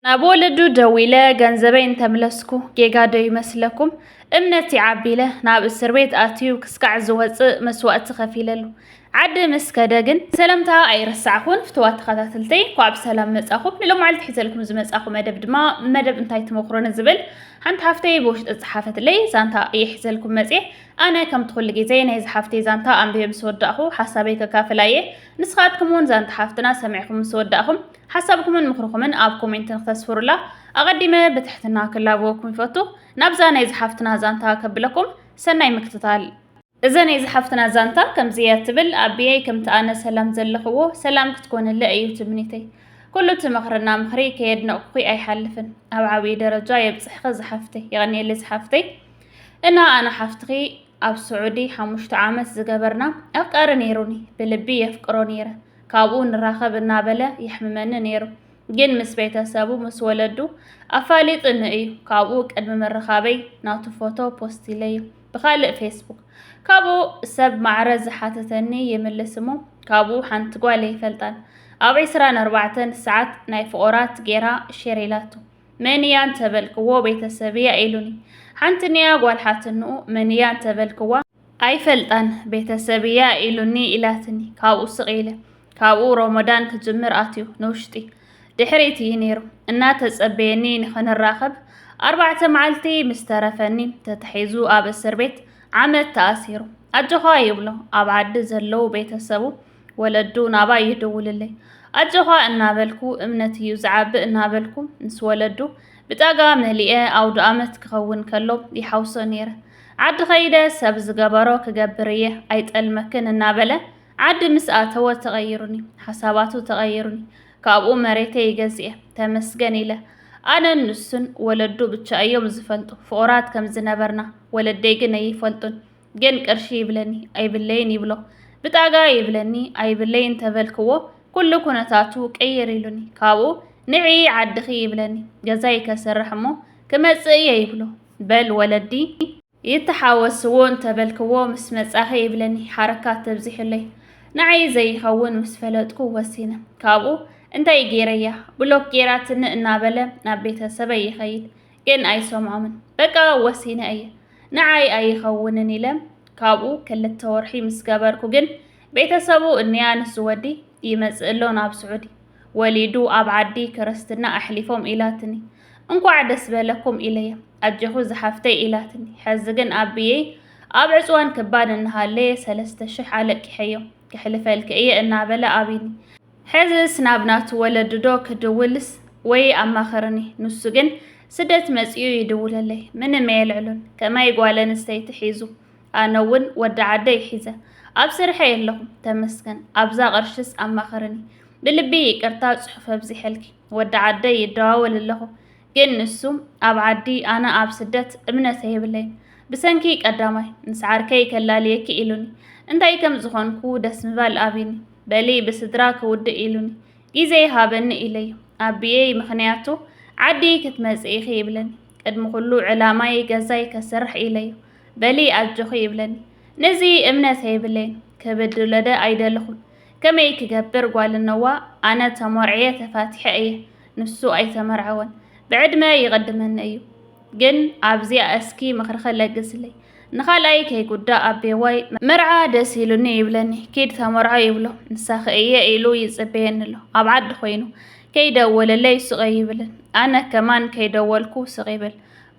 ናብ ወለዱ ደው ኢለ ገንዘበይ እንተምለስኩ ጌጋ ዶ ይመስለኩም? እምነት ይዓቢ ኢለ ናብ እስር ቤት ኣትዩ ክስካዕ ዝወጽእ መስዋእቲ ከፊለሉ ዓዲ ምስ ከደ ግን ሰላምታ ኣይረሳዕኹን ፍትዋት ተኸታተልተይ እኳ ብሰላም መጻኹም ንሎማዓልቲ ሒዘልኩም ዝመጻኹ መደብ ድማ መደብ እንታይ ትመኽሮ ንዝብል ሓንቲ ሓፍተይ ብውሽጢ ጸሓፈትለይ ዛንታ እየ ሒዘልኩም መጽየ ኣነ ከምቲ ኩሉ ግዜ ናይ ዝሓፍተይ ዛንታ ኣንብየ ምስ ወዳእኹ ሓሳበይ ከካፍላ እየ ንስኻትኩም እውን ዛንታ ሓፍትና ሰሚዕኹም ምስ ወዳእኹም ሓሳብኩምን ምኽርኹምን ኣብ ኮሜንት ንክተስፍሩላ ኣቐዲመ ብትሕትና ክላበወኩም ይፈቱ። ናብዛ ናይዚ ሓፍትና ዛንታ ከብለኩም ሰናይ ምክትታል። እዘ ናይ ዝሓፍትና ዛንታ ከምዚ እያ ትብል ኣቢየይ ከምቲ ኣነ ሰላም ዘለኽዎ ሰላም ክትኮንለ እዩ ትምኒተይ ኩሉ እቲ መኽርና ምኽሪ ከየድነቕኩኺ ኣይሓልፍን ኣብ ዓብዪ ደረጃ የብፅሕኺ ዝሓፍተይ የቐኒየለይ ዝሓፍተይ እና ኣነ ሓፍትኺ ኣብ ስዑዲ ሓሙሽተ ዓመት ዝገበርና ኣፍቃሪ ነይሩኒ ብልቢ የፍቅሮ ነይረ ካብኡ ንራኸብ እናበለ የሕምመኒ ነይሩ። ግን ምስ ቤተሰቡ ምስ ወለዱ ኣፋሊጡኒ እዩ። ካብኡ ቅድሚ ምርኻበይ ናቱ ፎቶ ፖስት ኢለዩ ብኻልእ ፌስቡክ። ካብኡ ሰብ ማዕረ ዝሓተተኒ ይምልስ እሞ ካብኡ ሓንቲ ጓል ኣይፈልጣን ኣብ ዕስራን ኣርባዕተን ሰዓት ናይ ፍቑራት ጌራ ሼር ኢላቶ። መን እያ እንተበልክዎ ቤተሰብ እያ ኢሉኒ። ሓንቲ ንያ ጓል ሓትንኡ መን እያ እንተበልክዋ ኣይፈልጣን ቤተሰብ እያ ኢሉኒ ኢላትኒ ካብኡ ስቕ ኢለ ካብኡ ሮሞዳን ክጅምር ኣትዩ ንውሽጢ ድሕሪት እዩ ነይሩ እናተጸበየኒ ንኽንራኸብ ኣርባዕተ መዓልቲ ምስ ተረፈኒ ተታሒዙ ኣብ እስር ቤት ዓመት ተኣሲሩ ኣጆኻ ይብሎ ኣብ ዓዲ ዘለዉ ቤተሰቡ ወለዱ ናባ ይድውልለይ ኣጆኻ እናበልኩ እምነት እዩ ዝዓብእ እናበልኩ ምስ ወለዱ ብጣጋ መሊኤ ኣውድኣመት ክኸውን ከሎ ይሓውሶ ነይረ። ዓዲ ከይደ ሰብ ዝገበሮ ክገብር እየ ኣይጠልመክን እናበለ ዓዲ ምስ ኣተወ ተቐይሩኒ፣ ሓሳባቱ ተቐይሩኒ። ካብኡ መሬተይ ገዚኤ ተመስገን ኢለ። ኣነን ንሱን ወለዱ ብቻ እዮም ዝፈልጡ ፍቑራት ከም ዝነበርና፣ ወለደይ ግን ኣይፈልጡን። ግን ቅርሺ ይብለኒ ኣይብለይን ይብሎ። ብጣጋ ይብለኒ ኣይብለይ እንተበልክዎ ኩሉ ኩነታቱ ቅይር ኢሉኒ። ካብኡ ንዒ ዓድኺ ይብለኒ ገዛይ ከስርሕ እሞ ክመጽእ እየ ይብሎ። በል ወለዲ ይተሓወስዎ እንተበልክዎ ምስ መጻኺ ይብለኒ ሓረካት ተብዚሑለይ። ንዓይ ዘይኸውን ምስ ፈለጥኩ ወሲነ። ካብኡ እንታይ ገይረያ ብሎክ ገይራትኒ እናበለ ናብ ቤተሰበይ ይኸይድ። ግን ኣይሰምዖምን በቃ ወሲነ እየ ንዓይ ኣይኸውንን ኢለም ካብኡ ክልተ ወርሒ ምስ ገበርኩ ግን ቤተሰቡ እንያ ንሱ ወዲ ይመጽእ ኣሎ ናብ ስዑዲ ወሊዱ ኣብ ዓዲ ክርስትና ኣሕሊፎም ኢላትኒ እንኳዕ ደስ በለኩም ኢለየ ኣጀኹ ዝሓፍተይ ኢላትኒ ሕዚ ግን ኣቢየይ ኣብ ዕፅዋን ክባን እናሃለየ ሰለስተ ሽሕ ኣለቂሐዮ ክሕልፈልኪ እየ እናበለ ኣቢኒ ሕዝስ ናብ ናቱ ወለዲ ዶ ክድውልስ ወይ ኣማኽርኒ ንሱ ግን ስደት መጺኡ ይድውለለይ ምንም ኣየልዕሎን ከማይ ጓል ኣንስተይቲ ሒዙ ኣነ ውን ወዲ ዓደይ ሒዘ ኣብ ስርሐይ ኣለኹ ተመስገን ኣብዛ ቅርሽስ ኣማኽርኒ ብልቢ ይቅርታ ጽሑፍ ኣብዚሐልኪ ወዲ ዓደይ ይደዋወል ኣለኹ ግን ንሱ ኣብ ዓዲ ኣነ ኣብ ስደት እምነት ኣይብለይን ብሰንኪ ቀዳማይ ምስ ዓርከይ ከላልየኪ ኢሉኒ እንታይ ከም ዝኾንኩ ደስ ምባል ኣብዩኒ በሊ ብስድራ ክውድእ ኢሉኒ ጊዜ ሃበኒ ኢለዮ። ኣቢየይ ምኽንያቱ ዓዲ ክትመጽኢ ኢኺ ይብለኒ። ቅድሚ ኩሉ ዕላማይ ገዛይ ከስርሕ ኢለዮ። በሊ ኣጆኺ ይብለኒ። ንዚ እምነት የብለይን። ክብድሎደ ኣይደለኹን። ከመይ ክገብር ጓል እነዋ ኣነ ተሞርዕየ ተፋቲሐ እየ። ንሱ ኣይተመርዐወን። ብዕድመ ይቕድመኒ እዩ። ግን ኣብዚኣ እስኪ ምኽርኺ ለግስለይ ንኻልኣይ ከይጉዳእ ኣቤዋይ መርዓ ደስ ኢሉኒ ይብለኒ ኪድ ተመርዖ ይብሎ ንሳኺ እየ ኢሉ ይጽበየኒ ኣሎ ኣብ ዓዲ ኮይኑ ከይደወለለይ ስቕ ይብልን ኣነ ከማን ከይደወልኩ ስቕ ይብል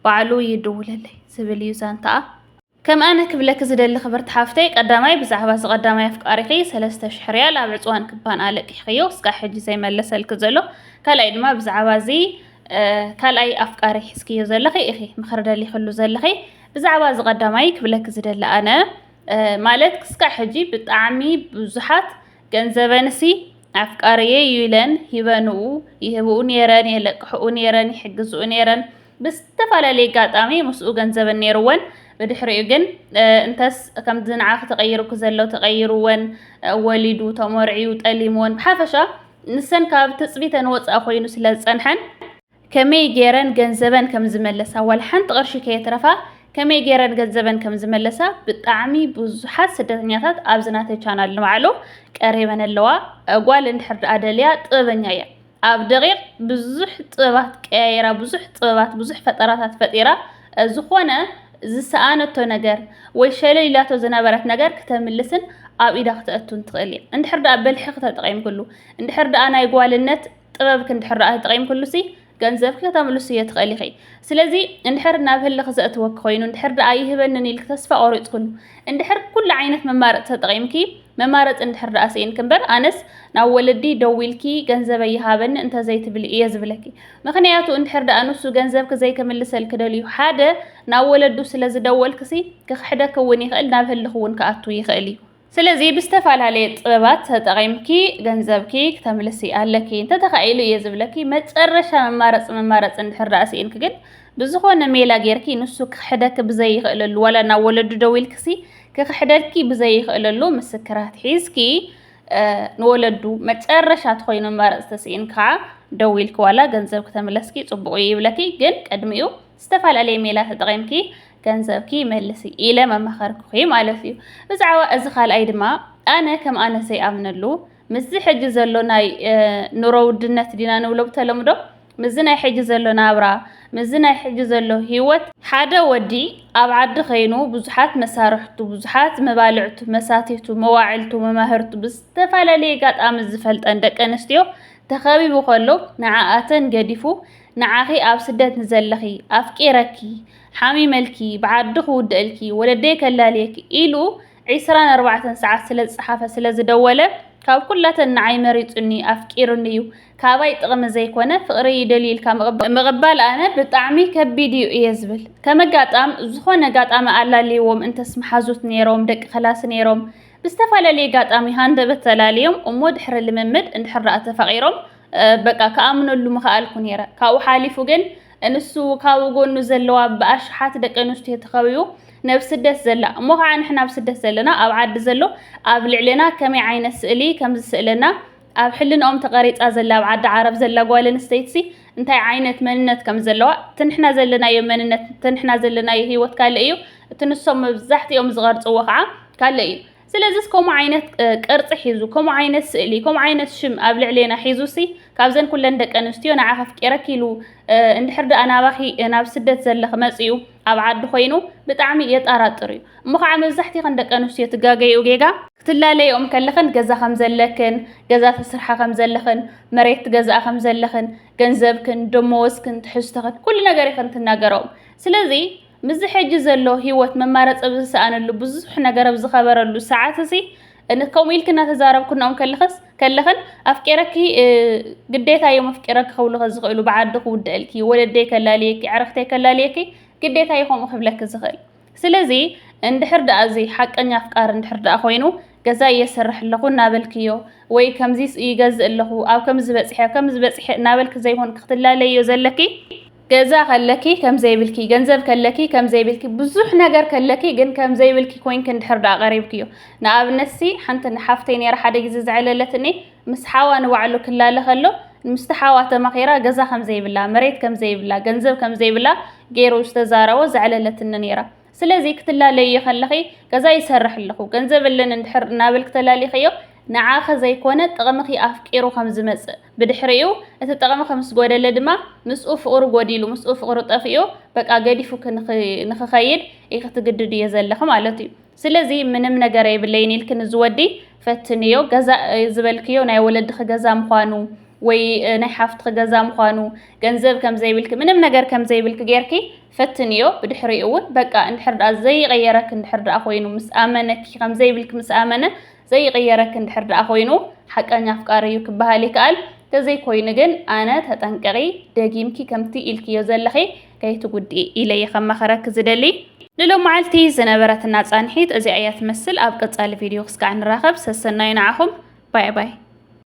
ባዕሉ ይድውለለይ ዝብል እዩ ዛንታኣ ከም ኣነ ክብለኪ ዝደሊ ክብርቲ ሓፍተይ ቀዳማይ ብዛዕባ እዚ ቀዳማይ ኣፍቃሪኺ ሰለስተ ሽሕ ርያል ኣብ ዕጽዋን ክባን ኣለቂሕክዮ እስካዕ ሕጂ ዘይመለሰልኪ ዘሎ ካልኣይ ድማ ብዛዕባ እዚ ካልኣይ ኣፍቃሪ ሒዝክዮ ዘለኺ ኢኺ ምኽሪ ደሊኽሉ ዘለኺ ብዛዕባ እዚ ቀዳማይ ክብለኪ ዝደሊ ኣነ ማለት ክስካዕ ሕጂ ብጣዕሚ ብዙሓት ገንዘበንሲ ኣፍቃሪየ እዩ ኢለን ሂበንኡ ይህብኡ ነይረን የለቅሕኡ ነይረን ይሕግዝኡ ነይረን ብዝተፈላለየ ኣጋጣሚ ምስኡ ገንዘበን ነይሩወን ብድሕሪኡ ግን እንተስ ከምዚ ንዓኺ ተቐይሩኪ ዘሎ ተቐይሩወን ወሊዱ ተመርዕዩ ጠሊሙወን ብሓፈሻ ንሰን ካብ ትፅቢተን ወፃእ ኮይኑ ስለ ዝፀንሐን ከመይ ገይረን ገንዘበን ከም ዝመለሳ ዋላ ሓንቲ ቅርሺ ከየትረፋ ከመይ ገይረን ገንዘበን ከም ዝመለሳ ብጣዕሚ ብዙሓት ስደተኛታት ኣብዚ ናተይ ቻናል ንባዕሉ ቀሪበን ኣለዋ። ጓል እንድሕር ደኣ ደልያ ጥበበኛ እያ። ኣብ ደቂቅ ብዙሕ ጥበባት ቀያይራ ብዙሕ ጥበባት ብዙሕ ፈጠራታት ፈጢራ ዝኾነ ዝሰኣነቶ ነገር ወይ ሸለል ኢላቶ ዝነበረት ነገር ክተምልስን ኣብ ኢዳ ክተእቱን ትኽእል እያ እንድሕር ደኣ ብልሒ ክተጠቂምክሉ እንድሕር ደኣ ናይ ጓልነት ጥበብክ እንድሕር ደኣ ተጠቂምክሉ ሲ ገንዘብኪ ከተምልስዮ ትኽእል ኢኺ ስለዚ እንድሕር ናብ ህልኽ ዘእትወኪ ኮይኑ እንድሕር ደኣ ይህበንን ኢልክ ተስፋ ቆሪጽክሉ እንድሕር ኩሉ ዓይነት መማረጽ ተጠቂምኪ መማረፂ እንድሕር ደኣ ስኢንኪ እምበር ኣነስ ናብ ወለዲ ደዊልኪ ገንዘበይ ይሃበኒ እንተዘይትብሊ እየ ዝብለኪ ምክንያቱ እንድሕር ደኣ ንሱ ገንዘብኪ ዘይክምልሰልኪ ደልዩ ሓደ ናብ ወለዱ ስለ ዝደወልክሲ ክክሕደኪ እውን ይክእል ናብ ህልክ እውን ክኣቱ ይክእል እዩ ስለዚ ብዝተፈላለየ ጥበባት ተጠቂምኪ ገንዘብኪ ክተምልሲ ኣለኪ እንተተካኢሉ እየ ዝብለኪ መፀረሻ መማረፂ መማረፂ እንድሕር ደኣ ስኢንኪ ግን ብዝኮነ ሜላ ጌርኪ ንሱ ክክሕደኪ ብዘይክእለሉ ዋላ ናብ ወለዱ ደዊልክሲ ክኽሕደልኪ ብዘይኽእለሉ ምስክራት ሒዝኪ ንወለዱ መጨረሻ ትኾይኑ ኣማራፂ ተስኢንካ ደዊልኪ ዋላ ገንዘብ ክተምለስኪ ፅቡቕ እዩ ይብለኪ ግን ቅድሚኡ ዝተፈላለየ ሜላ ተጠቒምኪ ገንዘብኪ መልሲ ኢለ መማኸርኩኺ ማለት እዩ ብዛዕባ እዚ ካልኣይ ድማ ኣነ ከም ኣነ ዘይኣምነሉ ምስዚ ሕጂ ዘሎ ናይ ኑሮ ውድነት ዲና ንብሎ ብተለምዶ ምስዚ ናይ ሕጂ ዘሎ ናብራ ምስዚ ናይ ሕጂ ዘሎ ሂወት ሓደ ወዲ ኣብ ዓዲ ከይኑ ብዙሓት መሳርሕቱ ብዙሓት መባልዕቱ መሳቲቱ መዋዕልቱ መማህርቱ ብዝተፈላለየ ጋጣሚ ዝፈልጠን ደቂ ኣንስትዮ ተኸቢቡ ከሎ ንዓኣተን ገዲፉ ንዓኺ ኣብ ስደት ንዘለኺ ኣፍቂረኪ ሓሚመልኪ ብዓዲ ክውድኣልኪ ወለደይ ከላልየኪ ኢሉ ዒስራን ኣርባዕተን ሰዓት ስለ ዝጸሓፈ ስለ ዝደወለ ካብ ኩላተን ንዓይ መሪጹኒ ኣፍቂሩኒ እዩ ካባይ ጥቕሚ ዘይኮነ ፍቕረይ ይደልዩ ኢልካ ምቕባል ኣነ ብጣዕሚ ከቢድ እዩ እየ ዝብል ከመጋጣም ዝኾነ ጋጣሚ ኣላልይዎም እንተስ መሓዙት ነይሮም ደቂ ከላሲ ነይሮም ብዝተፈላለየ ጋጣሚ ሃንደበት ተላልዮም እሞ ድሕሪ ልምምድ እንድሕር ተፋቒሮም በቃ ክኣምነሉ ምኸኣልኩ ነይረ ካብኡ ሓሊፉ ግን እንሱ ካብኡ ጎኑ ዘለዋ ብኣሽሓት ደቂ ኣንስትዮ ተኸቢቡ ነብ ስደት ዘላ እሞ ከዓ ንሕና ኣብ ስደት ዘለና ኣብ ዓዲ ዘሎ ኣብ ልዕሌና ከመይ ዓይነት ስእሊ ከም ዝስእለና ኣብ ሕልንኦም ተቐሪፃ ዘላ ኣብ ዓዲ ዓረብ ዘላ ጓል ኣንስተይትሲ እንታይ ዓይነት መንነት ከም ዘለዋ እቲ ንሕና ዘለናዮ መንነት እቲ ንሕና ዘለናዮ ሂወት ካልእ እዩ እቲ ንሶም መብዛሕትኦም ዝቐርፅዎ ከዓ ካልእ እዩ ስለዚስ ከምኡ ዓይነት ቅርጺ ሒዙ ከምኡ ዓይነት ስእሊ ከምኡ ዓይነት ሽም ኣብ ልዕሌና ሒዙሲ ካብዘን ኩለን ደቂ ኣንስትዮ ንዓ ከፍቂረኪ ኢሉ እንድሕር ደኣ ናባኺ ናብ ስደት ዘለኺ መጺኡ ኣብ ዓዲ ኮይኑ ብጣዕሚ የጣራጥር እዩ እሞ ከዓ መብዛሕቲኸን ደቂ ኣንስትዮ ትጋገይኡ ጌጋ ክትላለይኦም ከለኽን ገዛ ከም ዘለክን ገዛ ተስርሓ ከም ዘለኽን መሬት ትገዝኣ ከም ዘለኽን ገንዘብክን ደመወዝክን ትሕዝቶኽን ኩሉ ነገር ኢኽን ትናገርኦም ስለዚ ምስዚ ሕጂ ዘሎ ህይወት መማረጺ ኣብ ዝሰኣነሉ ብዙሕ ነገር ኣብ ዝከበረሉ ሰዓት'ዚ ከምኡ ኢልኪ እናተዛረብኩ ንኦም ከለኽስ ከለኽን ኣፍቂረኪ ግዴታ እዮም ኣፍቂረኪ ክብሉኸ ዝኽእሉ ብዓዱ ክውደእልኪ ወለደይ ከላልየኪ ኣዕርኽተይ ከላልየኪ ግዴታ እዩ ከምኡ ክብለኪ ዝኽእል ስለዚ እንድሕር ደኣ እዚ ሓቀኛ ኣፍቃሪ እንድሕር ደኣ ኮይኑ ገዛ እየሰርሕ ኣለኹ እናበልክዮ ወይ ከምዚ ይገዝእ ኣለኹ ኣብ ከምዚ በፂሐ ከምዚ በፂሐ እናበልኪ ዘይኮንኪ ክትላለዮ ዘለኪ ገዛ ከለኪ ከምዘይብልኪ ገንዘብ ከለኪ ከምዘይብልኪ ብዙሕ ነገር ከለኪ ግን ከምዘይብልኪ ኮይንኪ እንድሕር ደኣ ቀሪብክዮ ንኣብነት ሲ ሓንቲ ሓፍተይ ነይራ ሓደ ግዜ ዘዕለለትኒ ምስ ሓዋ ንባዕሉ ክላለ ከሎ ምስቲ ሓዋ ተማኺራ ገዛ ከምዘይብላ መሬት ከምዘይብላ ገንዘብ ከምዘይብላ ገይሩ ዝተዛረቦ ዘዕለለትኒ ነይራ ስለዚ ክትላለይዮ ከለኺ ገዛ ይሰርሕ ኣለኹ ገንዘብ ኣለኒ እንድሕር እናበልክ ተላሊኽዮ ንዓኺ ዘይኮነ ጥቕምኺ ኣፍቂሩ ከም ዝመጽእ ብድሕሪኡ እቲ ጥቕሚ ከም ዝጎደለ ድማ ምስኡ ፍቕሩ ጎዲሉ ምስኡ ፍቕሩ ጠፊኡ በቃ ገዲፉኪ ንኽኸይድ ኢኺ ትግድድዮ ዘለኺ ማለት እዩ ስለዚ ምንም ነገር የብለይን ኢልኪ ንዝወዲ ፈትንዮ ገዛ ዝበልክዮ ናይ ወለድኺ ገዛ ምዃኑ ወይ ናይ ሓፍትኺ ገዛ ምዃኑ ገንዘብ ከም ዘይብልኪ ምንም ነገር ከም ዘይብልኪ ጌርኪ ፈትንዮ ብድሕሪኡ ውን በቃ እንድሕር ድኣ ዘይቕየረኪ እንድሕር ድኣ ኮይኑ ምስ ኣመነኪ ከም ዘይብልኪ ምስ ኣመነ ዘይቕየረኪ እንድሕር ድኣ ኮይኑ ሓቀኛ ኣፍቃሪ እዩ ክበሃል ይከኣል ተዘይኮይኑ ግን ኣነ ተጠንቀቒ ደጊምኪ ከምቲ ኢልክዮ ዘለኺ ከይትጉድኢ ኢለየ ከማኸረኪ ዝደሊ ንሎማዓልቲ ዝነበረትና ፃንሒት እዚኣ እያ ትመስል ኣብ ቀፃሊ ቪድዮ ክስካዕ ንራኸብ ሰሰናዩ ንዓኹም ባይ ባይ።